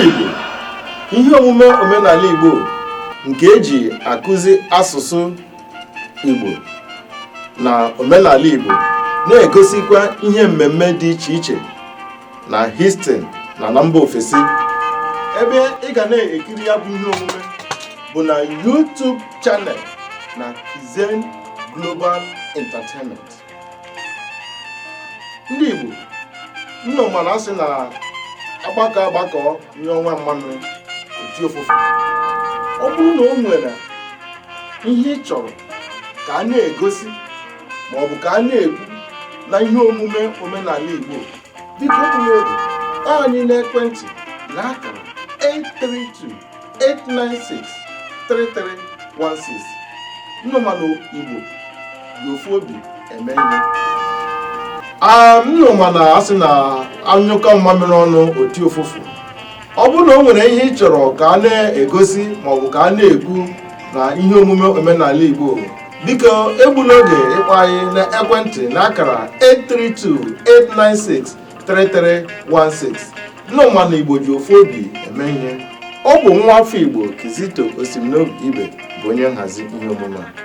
Igbo ihe omume omenala Igbo nke eji akụzi asụsụ Igbo na omenala Igbo na-egosikwa ihe mmemme dị iche iche na Houston na na mba ofesi ebe ị ga na-ekiri ya bụ ihe omume bụ na YouTube channel na Kizen Global Entertainment ndị Igbo ụnụ ma na asị na agbakọ agbakọ nye ọnwa mmanụ oti ofufe ọ bụrụ na o nwere ihe ị chọrọ ka a na-egosi ma ọ bụ ka a na-ekwu na ihe omume omenala Igbo biko egbula oge ịkpọ anyị n'ekwentị na akara 832 896 3316 ụnụ ma na igbo ji ofu obi eme ihe a ụnụ ma na asị na anyụkọ mmamịrị ọnụ oti ụfụfụ ọ bụrụ na o nwere ihe ị chọrọ ka a na-egosi maọbụ ka a na-ekwu na ihe omume omenala igbo biko egbula oge ịkpọ anyị na ekwentị na akara 832 896 3316 ụnụ ma na Igbo ji ofu obi eme ihe ọ bụ nwa afọ Igbo Kizito Osimiri Ibe bụ onye nhazi ihe omume a